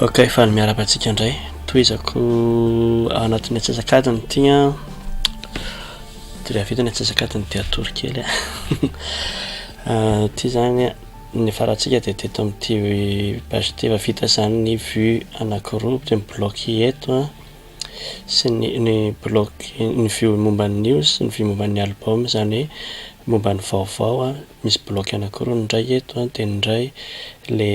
ok efa ny miaraba antsika indray toizako anatin'ny atsasakadiny tia dre avidiny atsasakadiny dia atory kely ah. ah, ty zany ny farantsika dia teto amin'ity page teva vita zany ny vue anakiroa de mibloque eto a ah. sy ny ny blog ny view momba ny news sy ny view momba ny album zany hoe momba ny vaovao an, misy blog anakiroa ny iray eto an, de ny iray le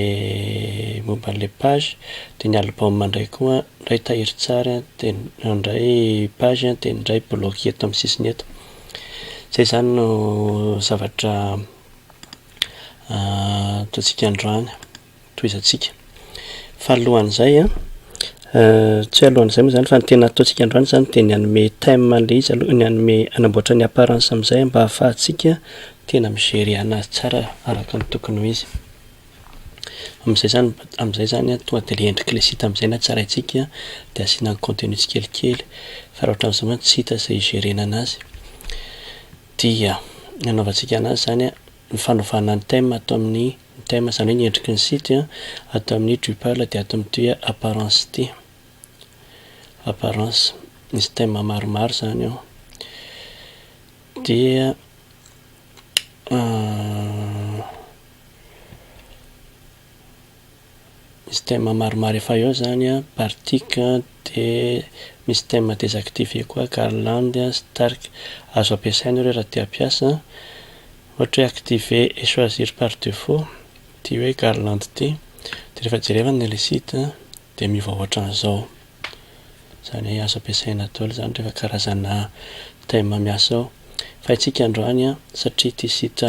momba anle page de ny album ndray koa ny iray tahiry tsara an, de ny indray page de ny iray blog eto amin'ny sisiny eto, zay zany no zavatra ataontsika androany. tohizantsika. Fa alohan'izay an, tsy hoe alohan'izay moa izany fa ny tena ataontsika androany izany dia ny hanome thème an'ilay izy aloha, ny hanome, hanamboatra ny apparence amin'izay mba hahafahantsika tena mi-gerer an'azy tsara araka ny tokony ho izy. Amin'izay izany, amin'izay izany an, tonga dia ilay endrik'ilay site amin'izay na tsaraintsika dia asiana ny contenu tsikelikely. Fa raha ohatran'izao mantsy tsy hita izay hi-gerer-na an'azy. Dia ny hanaovantsika an'azy izany an. ny fanovana ny thème ato amin'ny ny thème izany hoe ny endriky ny site a ato amin'ny Drupal dia ato amin'ity hoe apparence ity apparence misy thème maromaro izany ao dia Misy thème maromaro efa eo zany a, Partick a, de misy thème désactivé koa, Garland a, Stark. Azo ampiasaina ireo raha te hampiasa. Ohatra hoe activer et choisir par defaut ity hoe Garland ity. De rehefa jerena ny le site dia miova ohatran'izao. Zany hoe azo ampiasaina daholo zany rehefa karazana thème miasa ao. Fa antsika androany a, satria ity site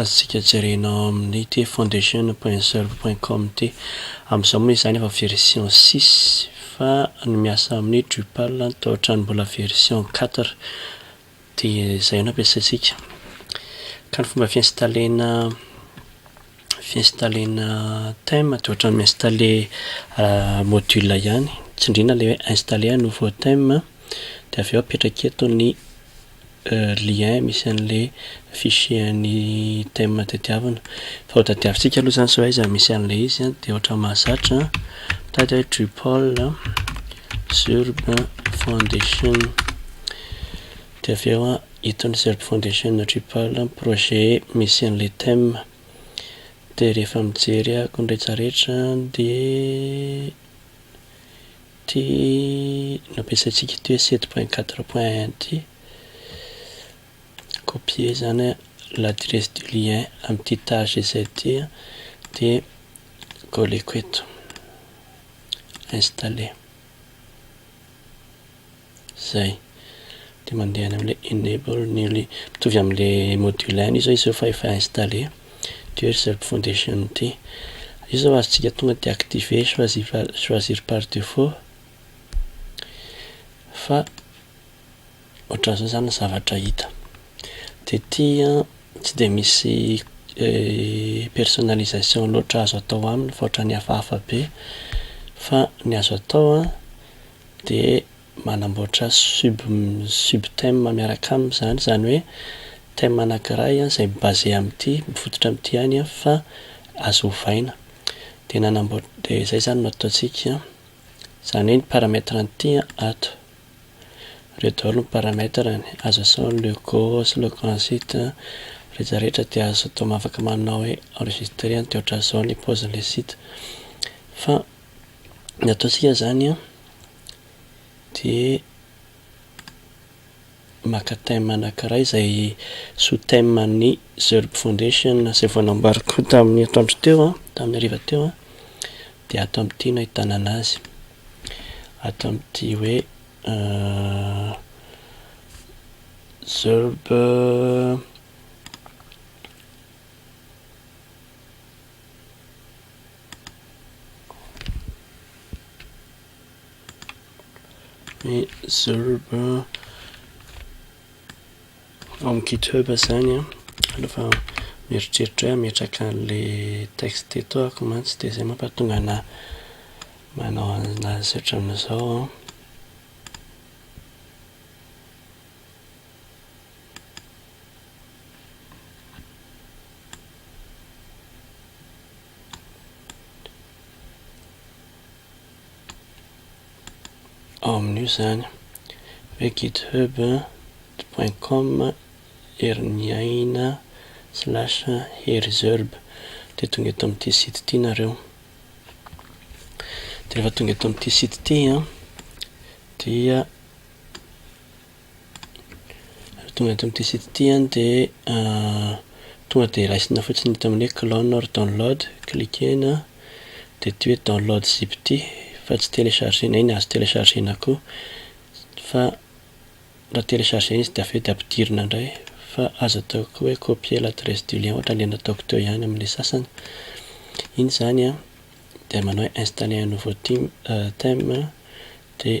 Azontsika jerena ao amin'ny ity foundation point serve point com ity. Amin'izao moa izany efa version six fa ny miasa amin'ny Drupal dia ohatran'ny mbola version quatre dia izay no ampiasaintsika. Ka ny fomba fi-installena fi-installena thème dia ohatran'ny mi-installer module ihany. Tsindriana ilay hoe installer nouveau thème dia avy eo apetraka eto ny lien misy an'le fichier an'ny thème tadiavina fa ho tadiavintsika aloha zany sao aiza misy an'le izy an de ohatra mahazatra mitady hoe Drupal zurb foundation de avy eo an eto ny zurb foundation na Drupal projet misy an'le thème de rehefa mijery aho akony rehetra rehetra de Ity nampiasaintsika ity hoe sept point quatre point un ity, copier izany l'adresse du lien amin'ity tars gz ity dia colleko eto, installer. Zay. Dia mandeha any amin'ilay enable newly. Mitovy amin'ilay module un io izao izy rehefa efa installé. Ity hoe reserved foundation ity. Io izao azontsika tonga dia activer choisir par choisir par défaut. Fa ohatran'izao izany ny zavatra hita. Dia ity an, tsy dia misy personnalisation loatra azo atao aminy fa ohatran'ny hafahafa be. Fa ny azo atao an. dia manamboatra sub sub thème miaraka aminy izany, izany hoe thème anankiray izay mi-baser amin'ity, mifototra amin'ity ihany fa azo ovaina. Dia nanamboatra, dia izay izany no ataontsika, izany hoe ny paramètre an'ity ato, ireo daholo ny paramètre-ny, azo asao ny logo sy logo en site, rehetra rehetra dia azo atao afaka manao hoe enregistrer an dia ohatran'izao ny pôzin'ilay site. Fa. Ny ataontsika izany an, dia maka thème anankiray izay sous-thème an'ny Zerbo Foundation izay vao namboariko tamin'ny atoandro teo an, tamin'ny hariva teo an, dia ato amin'ity no ahitànana azy. Ato amin'ity hoe Zerbo Ny zurb ao amin'ny GitHub izany an, rehefa mieritreritra hoe hametraka an'ilay texte eto aho ko mantsy dia izay mampatonga ana manao anazy hatramin'izao an. ao amin'io zany hoe github point com heriniaina slash herizerb de tonga eto amin'ity site ity nareo de rehefa tonga eto amin'ity site ity an dia Tonga eto amin'ity site ity an dia tonga dia raisina fotsiny eto amin'ny hoe clone or download, cliquer-na dia ity hoe download zip ity fa tsy telecharger, na eny aza telecharger-na koa fa raha telecharger izy dia avy eo dia ampidirina indray fa aza atao koa hoe copier l'adresse du lien ohatra ilay nataoko teo ihany amin'ilay sasany, iny izany an dia manao hoe installer un nouveau theme dia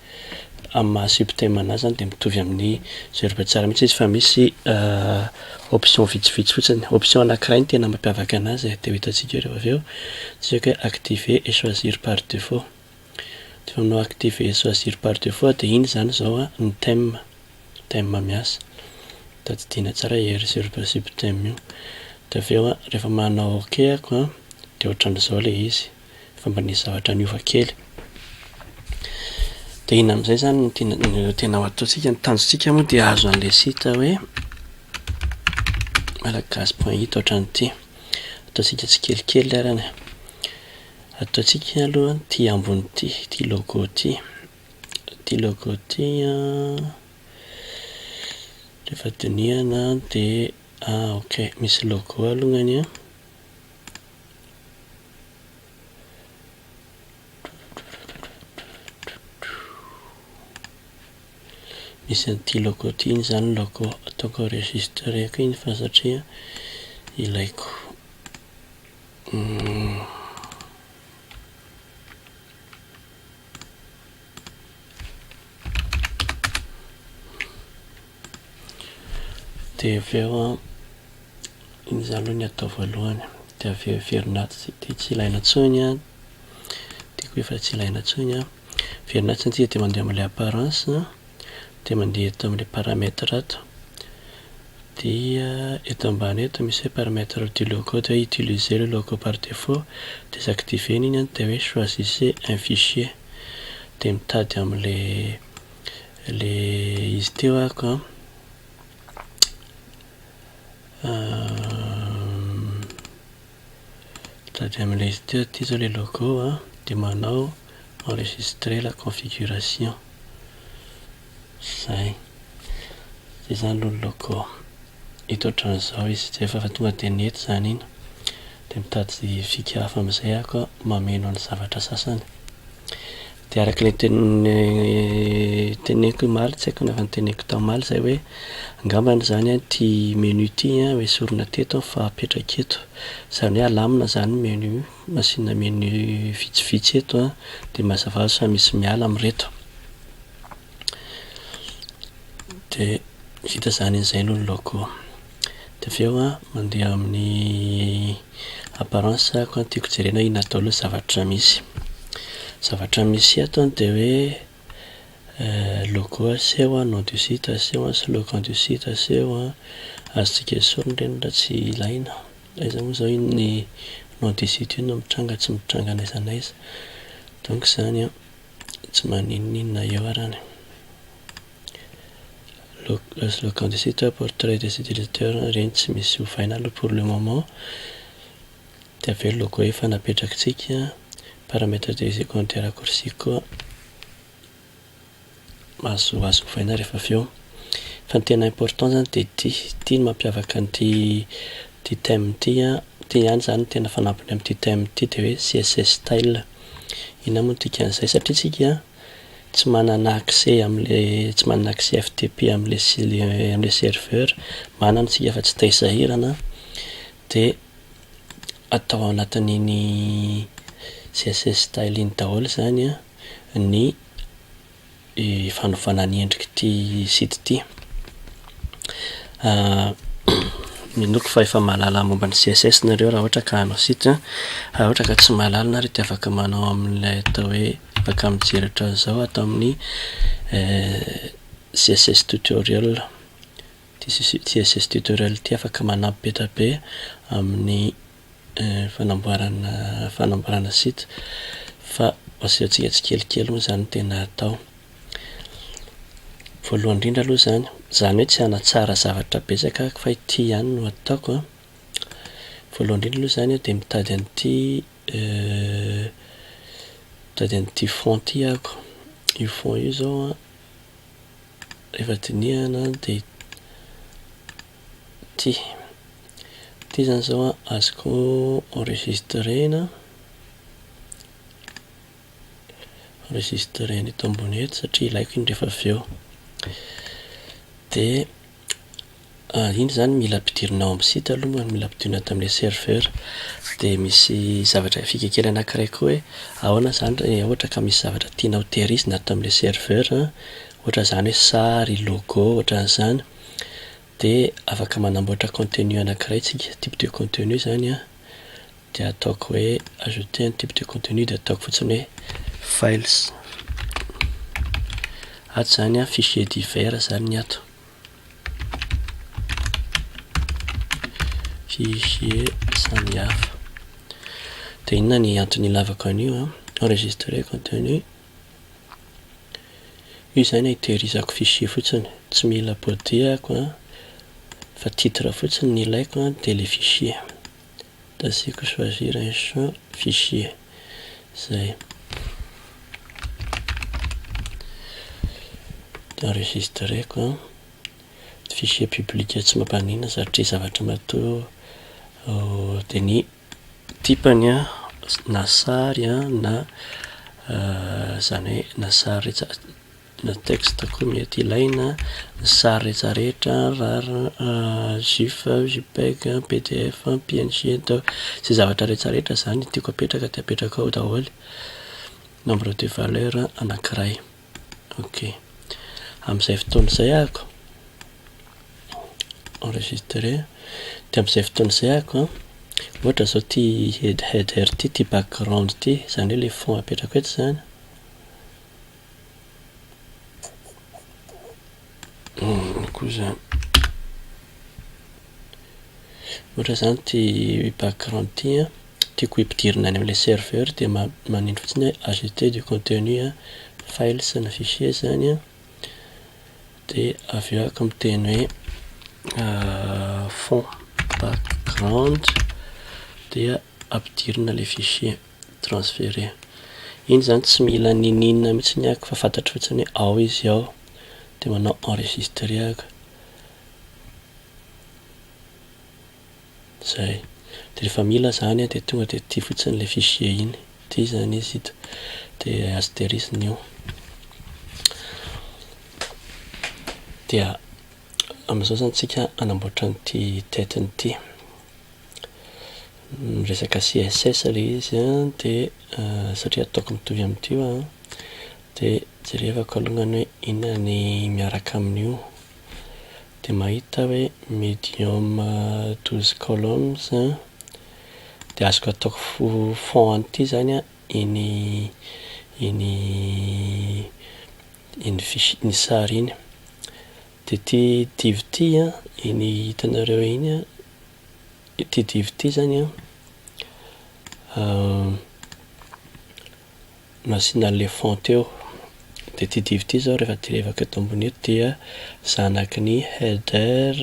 Amin'ny maha subtheme anazy izany dia mitovy amin'ny Zorba tsara mihitsy izy fa misy option vitsivitsy fotsiny. Option anankiray no tena mampiavaka anazy dia ho hitantsika eo rehefa avy eo, ataontsika hoe activer et choisir par defaut. Dia rehefa manao activer et choisir par defaut dia iny izany izao ny thème, thème miasa. Tadidiana tsara io Zorba subtheme io. Dia avy eo rehefa manao ok aho dia ohatran'izao ilay izy. efa mba nisy zavatra niova kely. Dia iny amin'izay izany no tena, no tena ho ataontsika, ny tanjontsika moa dia hahazo an'ilay site hoe malagasy point it ohatran'ity. Ataontsika tsikelikely arany e. Ataontsika aloha ity ambony ity, ity logo ity. Ity logo ity an, rehefa dinihana dia, ah ok, misy logo alohany an. Misy an'ity logo ity iny izany ny logo ataoko enregistreko iny fa satria ilaiko Dia avy eo an, izany aloha ny atao voalohany, dia avy eo averina ato izay te- tsy ilaina intsony an, dia koa efa tsy ilaina intsony an, averina ato isika dia mandeha amin'ilay apparence an, dia mandeha eto amin'ilay paramètre ato, dia eto ambany eto misy hoe paramètre du logo dia hoe utiliser le logo par défaut, dia desactiver-na iny an, dia hoe choisissez un fichier, dia mitady amin'ilay le izy teo ako an, sady amin'ilay izy teo, ity zao le logo a, de manao enregistrer la configuration, zay, de zany aloha ny logo. Eto hatran'izao izy tsy efa efa tonga dia nety izany iny dia mitady fika hafa amin'izay aho ka mameno an'ny zavatra sasany. Dia araka ilay teny teneniko omaly, tsy haiko na efa noteneniko tamaly izay hoe angambany izany an ity menu ity an hoesorina teto an fa apetraka eto. Izany hoe alamina izany menu, asiana menu vitsivitsy eto an, dia mazava ho azy fa misy miala amin'ireto. De vita zany iny zay aloha ny logo. De avy eo an, mandeha amin'ny apparence ko an, tiako jerena inona daholo ny zavatra misy. Zavatra misy eto an dia hoe logo aseho an, nom du site aseho an, slogan du site aseho an, azontsika esorina ireny raha tsy ilaina. Aiza moa zao iny ny nom du site io no mitranga tsy mitranga n'aiza n'aiza. Donc zany an, tsy maninona inona eo arany. Le slogan du site a portrait des utilisateurs ireny tsy misy ovaina aloha pour le moment, dia avy eo ny logo efa napetrakitsika, paramètre de vue compte de raccourci koa azo azo ovaina rehefa avy eo. Fa ny tena important zany dia ity, ity no mampiavaka an'ity ity thème ity an, ity ihany zany no tena fanampiny amin'ity thème ity dia hoe css style, inona moa no dikan'izay satria tsika tsy manana accès amle tsy manana accès FTP amle amle serveur manana tsika fa tsy tay sahirana de atao anatin'iny css style iny daholo zany an ny fanovana ny endrik'ity site ity minoako fa efa mahalala momba ny css nareo raha ohatra ka hanao site raha ohatra ka tsy mahalala nareo de afaka manao amle atao hoe Afaka mijery hatramin izao ato amin'ny CSS Tutorial. Ity CSS Tutorial ity afaka manampy be dia be amin'ny fanamboarana fanamboarana site fa asehontsika tsikelikely moa izany ny tena atao. Voalohany indrindra aloha izany, izany hoe tsy hanatsara zavatra betsaka aho fa ity ihany no ataoko an, voalohany indrindra aloha izany aho dia mitady an'ity Mitady an'ity fond ity ah ko, io fond io zao an, rehefa dinihana de ity, ity zany zao an azoko enregistrena, enregistrena eto ambony eto satria ilaiko iny rehefa avy eo, de. Iny zany mila ampidirina ao amin'ny site aloha mila ampidirina ato amin'ny serveur, dia misy zavatra fika kely anakiray koa hoe ahoana zany raha ohatra ka misy zavatra tianao tehirizina ato amin'ilay serveur an, ohatra zany hoe sary, logo, ohatran'izany, dia afaka manamboatra contenu anakiray tsika, type de contenu zany an. Dia ataoko hoe ajouter ny type de contenu dia ataoko fotsiny hoe files. Ato izany an, fichier divers izany ny ato. Fichier samihafa. Dia inona ny antony ilavako an'io an? Enregistrer contenu. Io izany hitehirizako fichier fotsiny, tsy mila body-ako an, fa titre fotsiny ny ilaiko an, dia ilay fichier. Asiako choisir un champ, fichier. Zay. De enregistreko an. Fichier public tsy mampaninona satria zavatra matoa dia ny tipany an, na sary an, na izany hoe na sary Le texte koa mety ilaina, ny sary rehetra rehetra, rar, gif, jpeg, pdf, png, dao, izay zavatra rehetra rehetra izany tiako apetraka dia apetrako ao daholo, nombre de valeur anankiray, ok, amin'izay fotoana izay ahako, enregistre, dia amin'izay fotoana izay ahako an, ohatra izao ity head header ity, ity background ity, izany hoe ilay fond apetrako eto izany, Inona koa izany? Ohatra izany ity background ity an, tiako hampidirina any amin'ilay serveur dia ma- manindry fotsiny hoe ajouter du contenu an, files na fichiers izany an, dia avy eo aho miteny hoe fond background dia ampidirina ilay fichier. transférer. Iny zany tsy mila niniana mitsy ny ahy fa fantatro fotsiny hoe ao izy ao de manao enregistrer aho zay de rehefa mila zany aho de tonga de tia fotsiny le fichier iny ty zany izy ito de asterisina eo dia amizao zany tsika hanamboatra an'ity tête-ny ity. Miresaka CSS ilay izy an, dia satria ataoko mitovy amin'ity io an, dia jerevako alongany hoe inona ny miaraka amin'io. Dia mahita aho hoe medium douze columns an, dia azoko atao fo- fond an'ity izany an, iny iny iny fichi- iny sary iny. Dia ity div ity an, iny hitanareo iny an, Ity didy ity izany an, nasiana le fond teo. Dia ity didy ity izao rehefa terevako eto ambony eto dia zanaky ny header,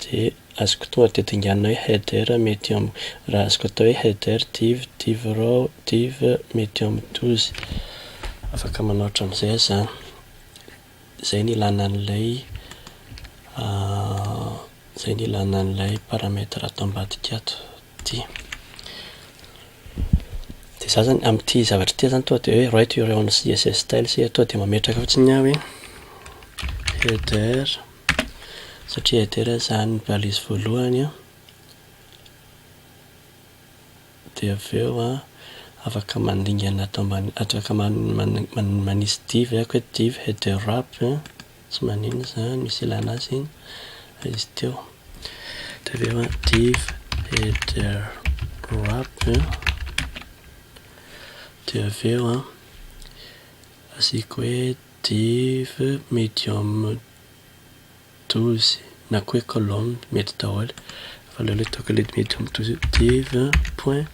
dia azoko tonga dia dinganina hoe header mety eo amin'ny, raha azoko atao hoe header div, div row, div mety eo amin'ny douze. Afaka manoatra an'izay aho izany. Izay no ilana an'ilay izay no ilana an'ilay paramètre ato ambadika ato ity. Dia za zany amin'ity zavatra ity zany tonga dia hoe write your own CSS style isika. Tonga dia mametraka fotsiny aho hoe header satria header izany balise voalohany an. Dia avy eo an, afaka mandingana ato ambany, afaka manisy div aho hoe div header rap an, tsy maninona izany, misy ilàna azy iny, dia izy teo. Dia avy eo an, div header rap an, dia avy eo an, asiako hoe div medium. dozy na koa hoe colonne mety daholo fa aleo ilay tôkalety medium dozy io div point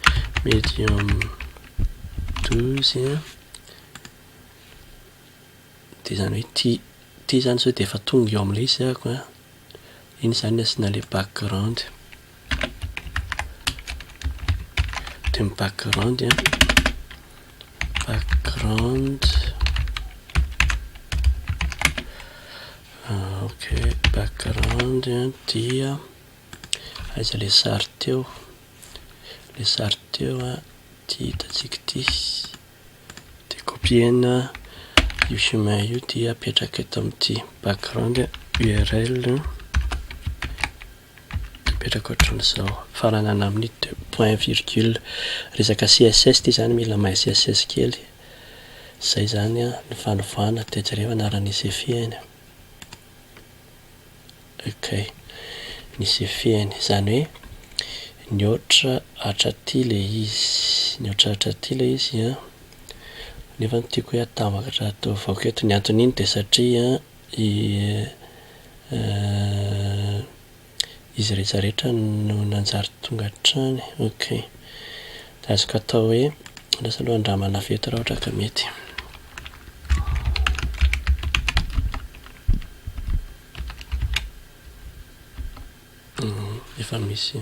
medium dozy dia izany hoe ity ity izany sao dia efa tonga eo amin'ilay izy zay ako a iny izany no asiana ilay background de ny background a background ok background dia aiza le sary teo le sary teo a ty hitantsika ty de copiena io chemin io dia apetraka eto amty background url. Mipetraka ohatran'izao. Faranana amin'ny deux point virgule. Resaka CSS ity izany mila mahay CSS kely. Izay izany an, ny fanovana dia jereo anaran'ny CFIN. Ok. Ny CFIN. Izany hoe nihoatra hatraty ilay izy. Nihoatra hatraty ilay izy an. Nefa ny tiako hoe atambatra, ataovako eto. Ny anton'iny dia satria an. Eh-eh-eh izy rehetra rehetra no nanjary tonga hatrany, ok. Dia azoko atao hoe andraso aloha andramana avy eto raha ohatra ka mety. Efa misy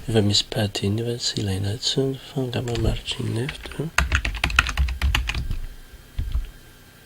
efa misy padding nefa tsy ilaina intsony fa angamba margin left.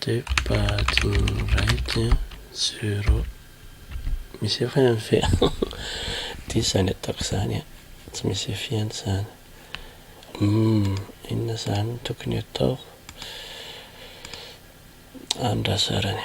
Teba dimy iraika zero Misy efa ihany ve? Diso izany ataoko izany an! Tsy misy efiany izany. Humm! Inona izany no tokony hataoko? Any raha zarany.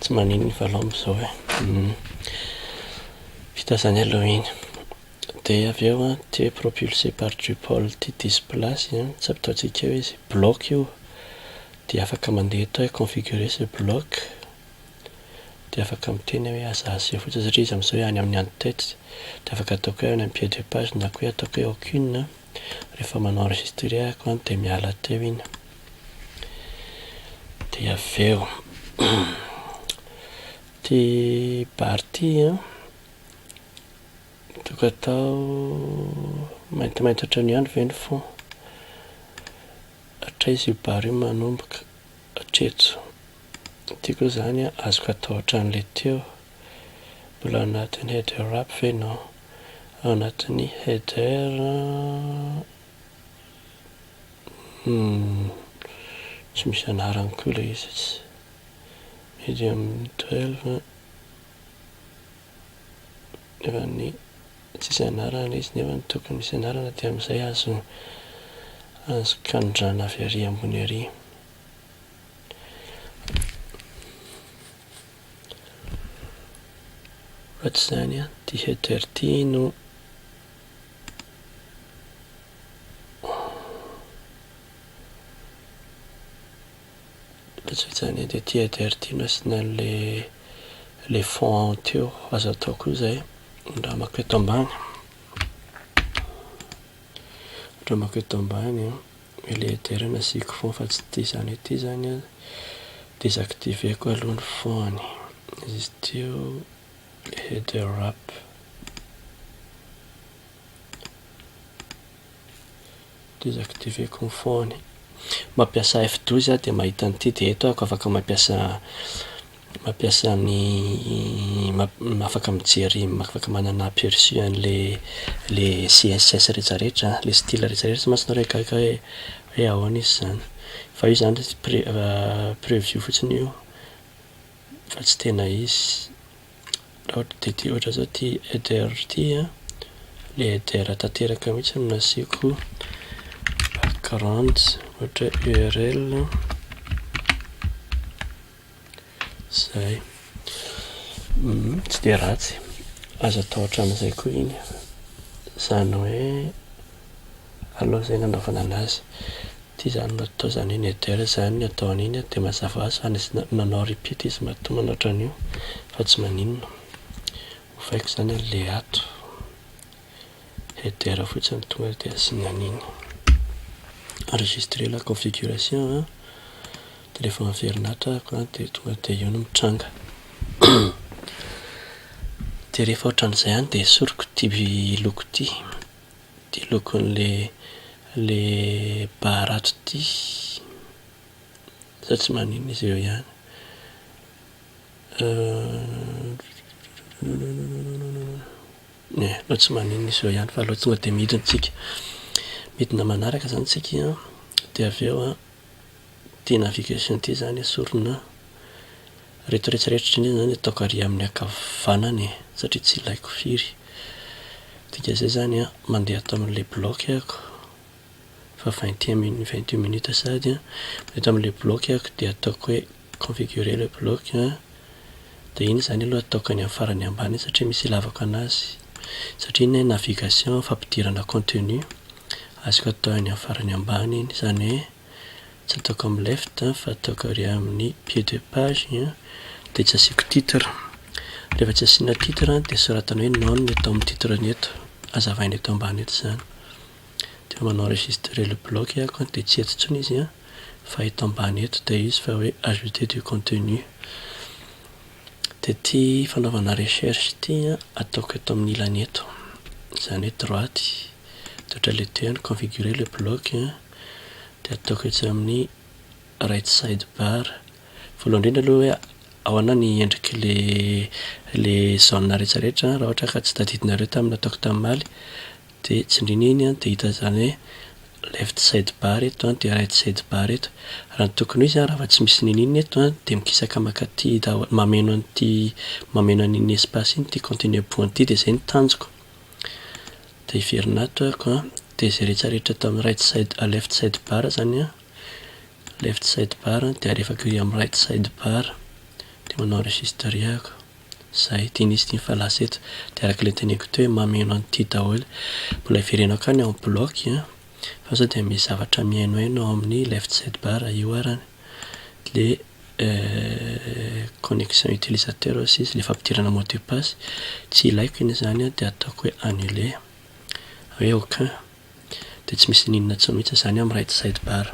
Tsy maninona fa alao amizao e. Vita zany aloha iny. Dia avy eo an, tu es propulsé par du pole tu te displaces an, tsy ataontsika eo izy, bloc io, dia afaka mandeha eto hoe configurer ce bloc, dia afaka miteny aho hoe aza asio fotsiny satria izy amizao any amin'ny en-tête, dia afaka ataoko hoe any amin'ny pied de page na koa hoe ataoko hoe aucune an. Rehefa manao enregistrer ako an dia miala teo iny dia avy eo ity bar ity an tokony atao maintimainty ohatran'ny andro ve ny fon? hatraiza io bar io manomboka? hatreto? ity koa izany an azoko atao ohatran'ilay teo? mbola anatin'ny header up ve ianao? anatin'ny header tsy misy anarany koa ilay izy tsy medium twelve nefa ny tsisy anarana ilay izy nefa ny tokony hisy anarana dia amin'izay azo azo kanondrana avy ary ambony ary Fa tsy zany an, ty header ty no Fa tsy zany an, de ty header ty no asiana anle le fond ao teo, azo atao koa zay, andramako eto ambany, andramako eto ambany an. Milliardaire nasiako fond fa tsy tia izany ity izany aza, desactiver-ko aloha ny fond-ny. Izy ity ô header rap. Desactiver-ko ny fond-ny. Mampiasa F12 aho dia mahita an'ity dia eto aho ka afaka mampiasa. Mampiasa ny afaka mijery afaka manana aperçu an'le le CSS rehetrarehetra le style rehetrarehetra tsy maintsy nareo gaga hoe hoe ahoana izy zany fa io zany pre- preview fotsiny io fa tsy tena izy raha ohatra de ty ohatra zao ty header ty a le header tanteraka mihitsy no nasiako background ohatra hoe url Zay. Hum tsy dia ratsy. Aza atao hatramin'izay koa iny. Izany hoe aloha izay nanaovana anazy. Ity izany mba atao izany hoe nether izany ny atao an'iny an, dia mazava ho azy fa nisy na- nanao repeat izy matoa manao ohatran'io fa tsy maninona. Ovaiko izany an'ilay ato. Header fotsiny tonga dia asiana an'iny. Enregistrer la configuration an. dia rehefa miverina ny atra ako an dia tonga dia eo no mitranga dia rehefa otran'izay an dia esoriko ity loko ity ity lokon'le le ba ratsy ity sa tsy maninona izy eo ihany eh aleo tsy maninona izy eo ihany fa aleo tonga dia midina tsika midina manaraka zany tsika dia avy eo an ity navigation ity zany e sorona reto rehetra rehetra otrany zany ataoko ary amin'ny ankavanana e satria tsy ilaiko firy dika zay zany a mandeha ataon'le bloc ako fa vingt et un minutes sady a mandeha ataon'le bloc ako de ataoko hoe Configurer le bloc dia iny izany aloha ataokany amin'ny farany ambany satria misy ilavako anazy satria iny navigation fampidirana contenu azoko atao any amin'ny farany ambany iny izany hoe tsy ataoko amin'ny left fa ataoko ary amin'ny pied de page dia tsy asiako titre rehefa tsy asiana titre dia soratana hoe non eto amin'ny titre ny eto, azavaina eto ambany eto izany. Dia manao enregistrer le bloc aho dia tsy eto intsony izy fa eto ambany eto dia izy fa hoe ajouter du contenu dia ity fanaovana recherche ity ataoko eto amin'ny ilany eto izany hoe droite dia ohatra le teo ihany configurer le bloc dia ataoko etsy amin'ny right side bar voalohany indrindra aloha hoe ahoana ny endriky le le zone rehetra rehetra raha ohatra ka tsy tadidinareo tamin'ny nataoko tamin'ny omaly Dia tsindrina iny an, dia hita izany hoe left side bar eto an, dia right side bar eto. Raha ny tokony ho izy an, raha vao tsy misy n'iny iny eto an, dia mikisaka mankaty daholo, mameno an'ity, mameno an'iny espace iny ity contenu aboany ity, dia izay ny tanjoko. Dia hiverina ato aho an, dia izay rehetra rehetra tao amin'ny right side, left side bar izany an, left side bar dia alefako amin'ny right side bar. Dia manao enregistré aho. Zay ty nisy ty ny fa lasa eto de araka le teneniko teo hoe mameno an'ity daholo mbola hevereno akany ao am bloc an fa sao de misy zavatra mihainohaino ao amin'ny left sidebar io arany le connexion utilisateur hoy sisa le fampidirana mot de passe tsy ilaiko anie zany an de ataoko hoe annule hoe aucun de tsy misy n'inona intsony mitsy zany am right sidebar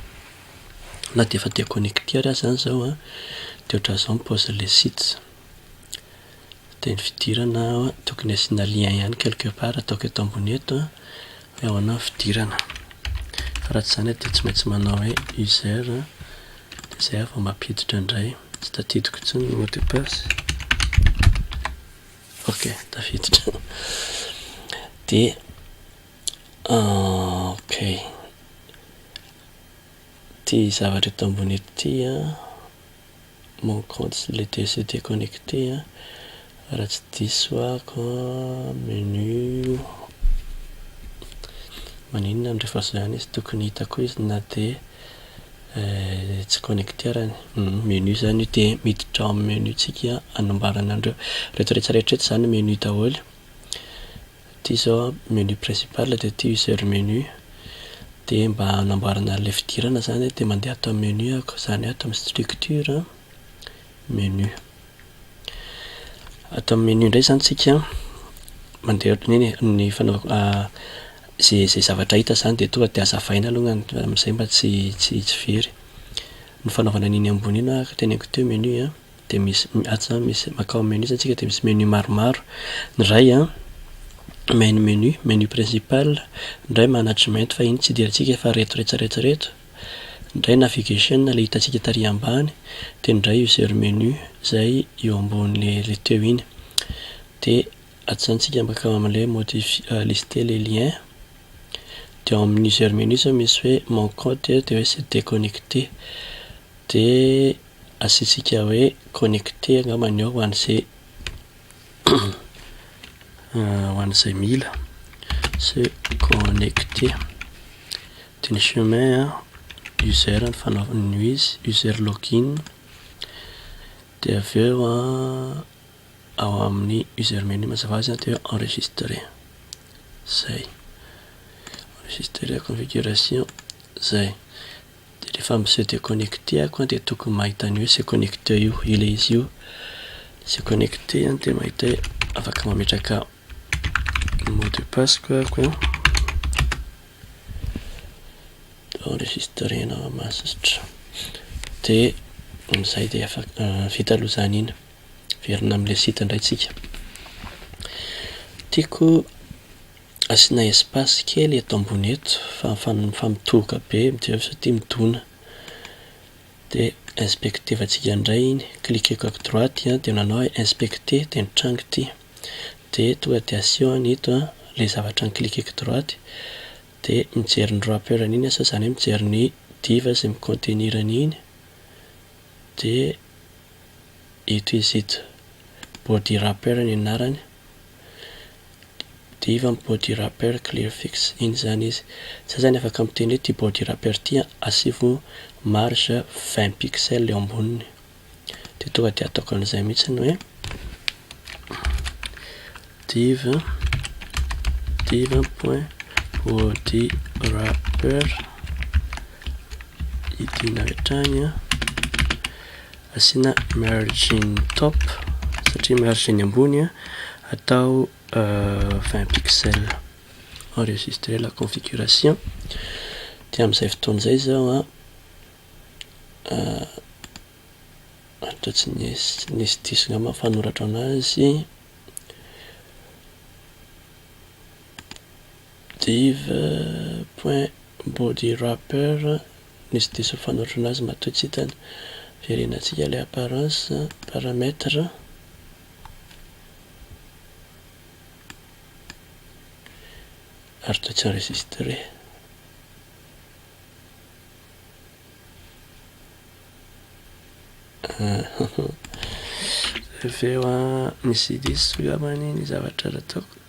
na de efa de connecter aza zany zao an de otran'izao ny paozin'le site Teny fidirana tokony asiana lien ihany quelque part ataoko eto ambony eto hoe ahoana ny fidirana. Fa raha tsy izany dia tsy maintsy manao hoe user dia izay aho vao mampiditra indray. Tsy tadidiko intsony ny mot de passe. Ok, tafiditra. Dia ok. Ity zavatra eto ambony ity an. Mon compte sur le DCD connecté a, raha tsy diso ahako an, menu maninona no rehefa zay ihany izy tokony hita koa izy na dia tsy connecté ary an, menu izany io dia miditra ao amin'ny menu tsika anambarana an'ireo retraretra rehetra izany menu daholo. Ity zao a menu principal de ity user menu de mba hanamboarana le fidirana zany de mandeha ato am menu aho zany hoe ato am structure menu ato am menu ndray zany tsika mandeha ohatry ny hoe ny fanaovako ze ze zavatra hita zany de tonga de azavaina alongany amzay mba tsy tsy very ny fanaovana an'iny ambony iny teneniko teo menu a. dia misy atsy izany misy makao amin'ny menu izany isika dia misy menu maromaro ny iray an main menu menu principal ny iray management fa iny tsy idirantsika fa ireto rehetrarehetra ireto ny iray navigation ilay hitantsika tary ambany dia ny iray user menu izay eo ambonin'ilay ilay teo iny dia atsy izany isika makao amin'ilay modifi- lister les liens dia ao amin'ny user menu izao misy hoe mon compte dia hoe c'est déconnecté dia Asiantsika hoe connecter angambany eo ho an'izay ho an'izay mila se connecter. Dia ny chemin a, user ny fanaovana an'io izy, user login. Dia avy eo a, ao amin'ny user menu mazava ho azy a, dia enregistrer. Zay. Enregistrer configuration. Zay. Dia rehefa mi-se deconnecter ako an, dia tokony mahita an'io hoe se connecter io, io ilay izy io, se connecter an, dia mahita hoe afaka mametraka ny mot de passe ko ako an, dia enregistrena ao Massitre, dia amin'izay dia afaka, vita aloha izany iny, averina amin'ilay site indray tsika, tiako. Asiana espace kely eto ambony eto fa fa mitoroka be dia avy satria midona dia inspectevantsika indray iny, cliqueko à droite dia nanao hoe inspecte dia nitranga ity dia tonga dia asio any ito ilay zavatra ny cliqueko droite dia mijery ny wrapper iny aho izany hoe mijery ny div sy ny contenir an'iny dia ito izy ito, body wrapper ny anarany. Diva am body rapper clear fix iny zany izy. Zay zany afaka miteny hoe ty body rapper ty an asivo marge vingt pixel eo amboniny. De tonga de ataoko an'izay mitsiny hoe diva diva point body rapper idina hatrany an. Asiana merging top satria merging ambony a, atao vingt pixels. Enregistrer la configuration. Dia amin'izay fotoana izay izao an, ohatra tsy nisy, nisy diso angamba ny fanoratrao anazy. Div. Point body wrapper nisy diso fanotrona azy matoa tsy hitany. Verenantsika ilay apparence, paramètre, ary toa tsy enregistré. Avy eo an, misy diso angambany ny zavatra ataoko.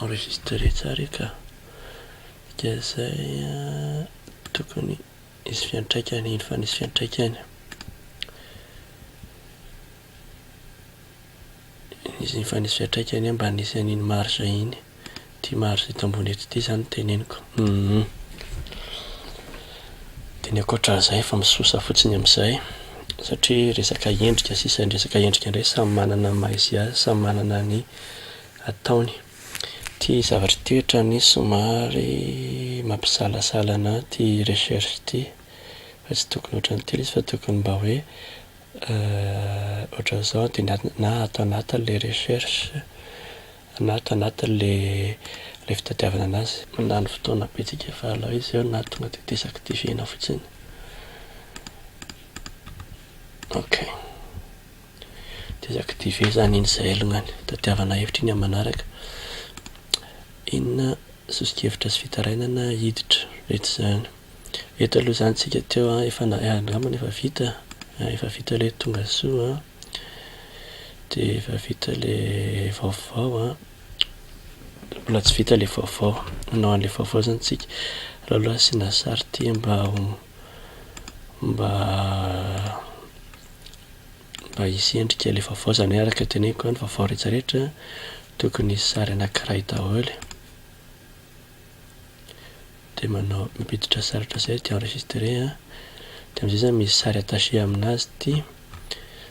Enregistre tsara eka dia zay tokony hisy fiantraikany iny fa nisy fiantraikany izy iny fa nisy fiantraikany mba nisy an'iny marge iny ity marge eto ambony eto ity zany no teneniko. Dia ny ankoatran'izay efa misosa fotsiny amin'izay satria resaka endrika sisa ny resaka endrika indray samy manana ny maha izy azy, samy manana ny ataony. Ity zavatra ity ohatran'ny somary mampisalasala anà ity recherche ity fa tsy tokony ohatran'ity ilay izy fa tokony mba hoe ohatran'izao na ato anatin'ilay recherche na tanaty le le fitadiavana anazy. Mandany fotoana bitsika efa aleo izy eo na tonga de desactiver-na fotsiny. Ok. Desactiver zany iny zay alongany. Tadiavana hevitra iny amanaraka. Inona soso-kevitra sy fitarainana hiditra etsy zany. Eto aloha zany tsika teo an, efa na ah angambany efa vita an, efa vita le tongasoa an, de efa vita le vaovao an, mbola tsy vita le vaovao, hanao an'le vaovao zany tsika, alao aloha asiana sary ity mba ho mba mba hisy endrika le vaovao zany hoe araka ny teneniko an, ny vaovao rehetra rehetra tokony hisy sary anankiray daholo e. dia manao mampiditra saratra zay dia enregistré a dia amizay zany misy sary attaché aminazy ity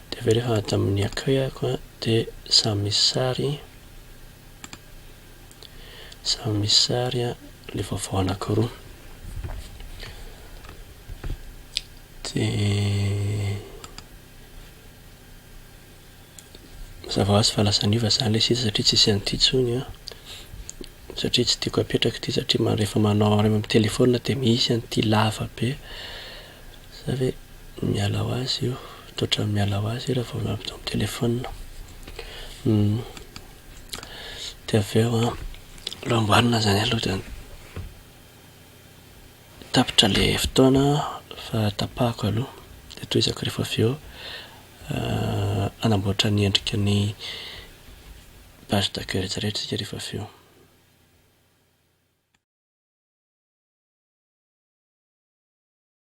dia avy eo rehefa ato amin'ny accueil ako a dia samy misy sary samy misy sary a le vaovao anakiroa dia Mazava hoazy fa lasa niova zany le seza satria tsisy an'ity intsony an! Satria tsy tiako apetraka ity satria ma- refa manao any amin'ny telefona de misy an'ity lava be, za ve miala ho azy io, to hatrany miala ho azy io raha vao avy ato amin'ny telefona. De avy eo an, raha amboarina zany aloha zany. Tapitra le fotoana fa tapahako aloha de tohizako rehefa avy eo hanamboatra ny endriky ny page d'accueil rehetra rehetra isika rehefa avy eo.